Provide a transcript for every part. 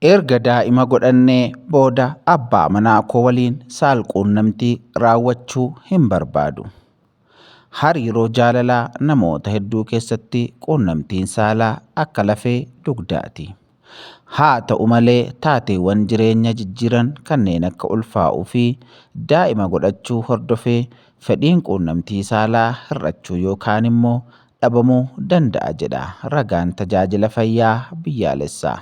Erga daa'ima godhannee booda abbaa manaa koo waliin saalquunnamtii raawwachuu hin barbaadu. Hariiroo jaalalaa namoota hedduu keessatti quunnamtiin saalaa akka lafee dugdaati. Haa ta'u malee taateewwan jireenya jijjiiran kanneen akka ulfaa'uu fi daa'ima godhachuu hordofee fedhiin quunnamtii saalaa hir'achuu yookaan immoo dhabamuu danda'a jedha ragaan Tajaajila Fayyaa Biyyaalessaa.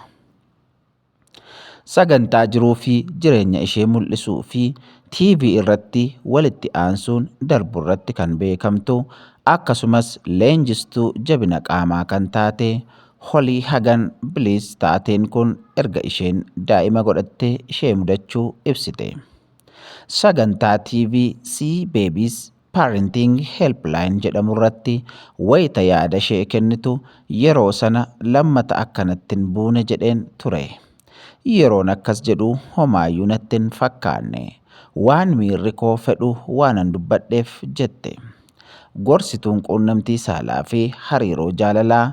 Sagantaa jiruu fi jireenya ishee mul'isuu fi TV irratti walitti aansuun darbu irratti kan beekamtu akkasumas leenjistuu jabina qaamaa kan taate Holii Hagan Biliis taateen kun erga isheen daa'ima godhatte ishee mudachuu ibsite. Sagantaa TV Sea Babies Parenting Helpline jedhamurratti wayita yaadashee kennitu yeroo sana lammata akka natti hin buune jedheen ture. Yeroon akkas jedhu homaayyuu natti hin fakkaanne. Waan miirri koo fedhu waanan dubbadheef jette. Gorsituun quunnamtii saalaa fi hariiroo jaalalaa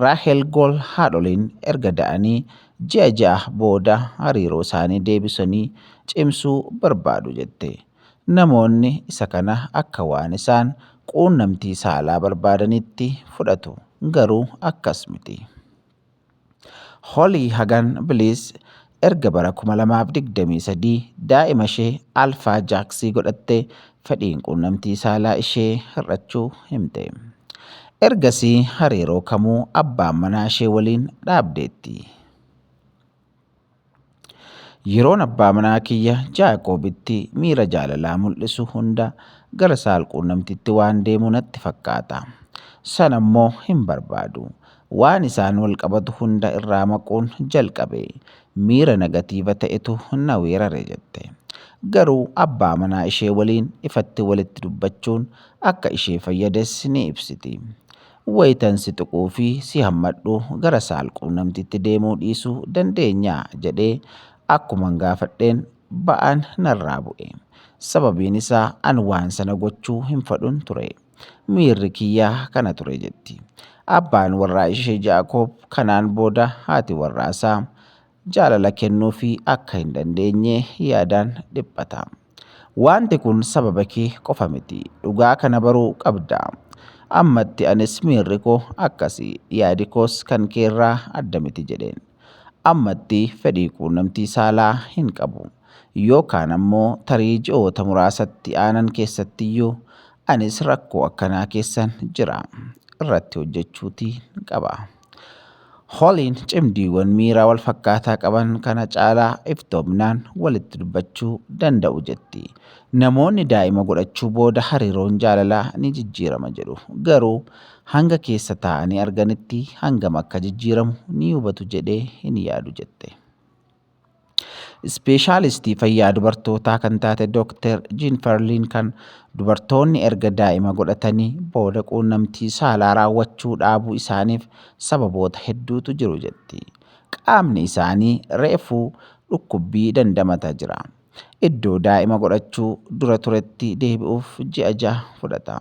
Raahel Gool haadholiin erga da'anii ji'a ja'a booda hariiroosaanii deebisanii cimsuu barbaadu jette. Namoonni isa kana akka waan isaan quunnamtii saalaa barbaadaniitti fudhatu, garuu akkas miti. Holly Hagan Bliss erga bara 2023 daa'ima ishee Alpha Jaxi godhattee fedhiin quunnamtii saalaa ishee hir'achuu himte. Ergasii hariiroo kamuu abbaan manaa ishee waliin dhaabdeetti. Yeroon abbaa manaa kiyya Jaaqoobitti miira jaalalaa mul'isu hunda gara saalquunnamtiitti waan deemu natti fakkaata. Sana immoo hin barbaadu. Waan isaan wal qabatu hunda irraa maquun jalqabe. Miira negatiiva ta'etu na weerare jette. Garuu abbaa manaa ishee waliin ifatti walitti dubbachuun akka ishee fayyades ni ibsiti. Wayitan si tuquu fi si hammadhu gara saalquunnamtiitti deemuu dhiisuu dandeenyaa? jedhee akkuman gaafadheen ba'aan narraa bu'e. Sababiin isaa an waan sana gochuu hin fadhun ture. Miirri kiyya kana ture jetti. Abbaan warraa ishee Jaakoob kanaan booda haati warraasaa jaalala kennuufii akka hin dandeenye yaadaan dhiphata. Waanti kun sababa kee qofa miti. Dhugaa kana baruu qabda. Ammatti anis miirri koo akkasi, yaadi koos kan kee irraa adda miti jedheen. Ammatti fedhii quunnamtii saalaa hin qabu. Yoo kaan ammoo tarii ji'oota muraasatti aanan keessattiyyuu anis rakkoo akkanaa keessan jira. Irratti hojjechuutiin qaba. Holiin cimdiiwwan miiraa wal fakkaataa qaban kana caalaa iftoominaan walitti dubbachuu danda'u jetti. Namoonni daa'ima godhachuu booda hariiroon jaalalaa ni jijjiirama jedhu. Garuu hanga keessa taa'anii arganitti hangam akka jijjiiramu ni hubatu jedhee hin yaadu jette. Ispeeshaalistii fayyaa dubartootaa kan taate Dooktar Jiinfarliin kan dubartoonni erga daa'ima godhatanii booda quunnamtii saalaa raawwachuu dhaabuu isaaniif sababoota hedduutu jiru jetti. Qaamni isaanii reefuu dhukkubbii dandamata jira. Iddoo daa'ima godhachuu dura turetti deebi'uuf ji'a jaha fudhata.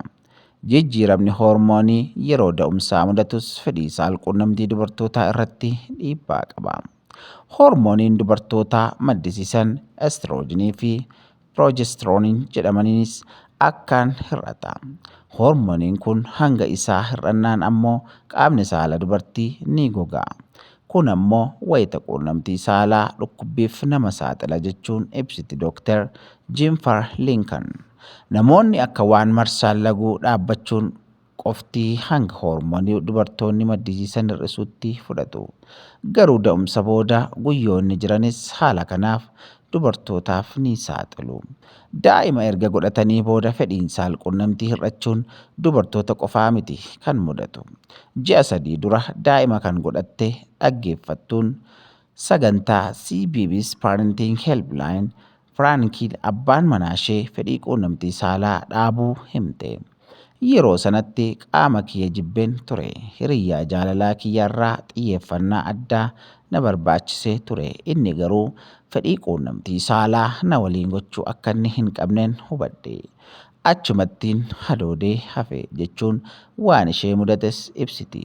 Jijjiiramni hoormoonii yeroo da'umsaa mudatus fedhii saalquunnamtii dubartootaa irratti dhiibbaa qaba. Hoormooniin dubartootaa maddisiisan estroojinii fi piroojestirooniin jedhamaniinis akkaan hir'ata. Hoormooniin kun hanga isaa hir'annaan ammoo qaamni saala dubartii ni goga. Kun ammoo wayita quunnamtii saalaa dhukkubbiif nama saaxila jechuun ibsiti Dr. Jiinfar Liinkan. Namoonni akka waan marsaan laguu dhaabbachuun qofti hanga hoormoonii dubartoonni maddisiisan hir'isuutti fudhatu. Garuu da'umsa booda guyyoonni jiranis haala kanaaf dubartootaaf ni saaxilu. Daa'ima erga godhatanii booda fedhiin saalquunnamtii hir'achuun dubartoota qofaa miti kan mudatu. Ji'a sadii dura daa'ima kan godhatte dhaggeeffattuun sagantaa CBBS Parenting Helpline Firaankiin abbaan manaashee fedhii quunnamtii saalaa dhaabuu himte. Yeroo sanatti qaama kiyya jibbeen ture. Hiriyyaa jaalalaa kiyyarraa xiyyeeffannaa addaa na barbaachisee ture. Inni garuu fedhii quunnamtii saalaa na waliin gochuu akkanni hin qabnen hubadhe. Achumattiin hadoodee hafe, jechuun waan ishee mudates ibsiti.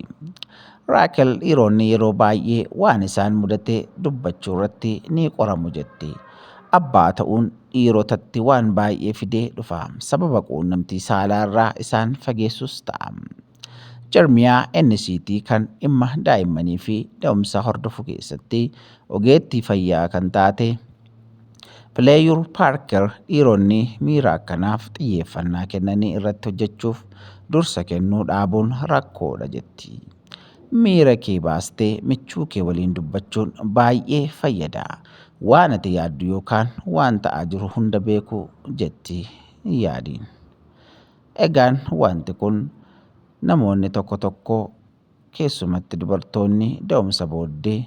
Raakel dhiironni yeroo baay'ee waan isaan mudate dubbachuurratti ni qoramu jetti. Abbaa ta'uun dhiirotatti waan baay'ee fidee dhufa. Sababa quunnamtii saalaarraa isaan fageessus ta'a. Jarmiyaa NCT kan dhimma daa'immanii fi da'umsa hordofu keessatti ogeettii fayyaa kan taate Pileeyur Paarker dhiironni miira akkanaaf xiyyeeffannaa kennanii irratti hojjechuuf dursa kennuu dhaabuun rakkoodha jetti. Miira kee baastee michuu kee waliin dubbachuun baay'ee fayyada. Waan ati yaaddu yookaan waan ta'aa jiru hunda beeku jetti yaadiin. Egaan wanti kun namoonni tokko tokko keessumatti dubartoonni da'umsa booddee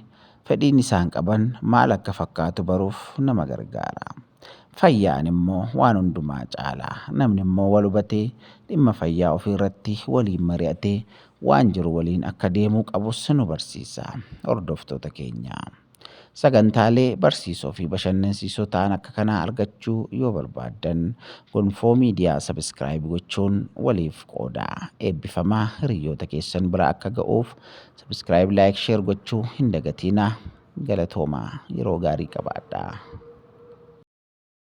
fedhiin isaan qaban maal akka fakkaatu baruuf nama gargaara. Fayyaan immoo waan hundumaa caala. Namni immoo wal hubatee dhimma fayyaa ofii irratti waliin mari'atee waan jiru waliin akka deemuu qabus nu barsiisa. Hordoftoota keenya. Sagantaalee barsiisoo fi bashannansiisoo ta'an akka kanaa argachuu yoo barbaaddan Gonfoo Miidiyaa Subscribe gochuun waliif qoodaa. Eebbifamaa hiriyyoota keessan bira akka ga'uuf Subscribe Like Share gochuu hin dagatiinaa. Galatoomaa yeroo gaarii qabaadhaa.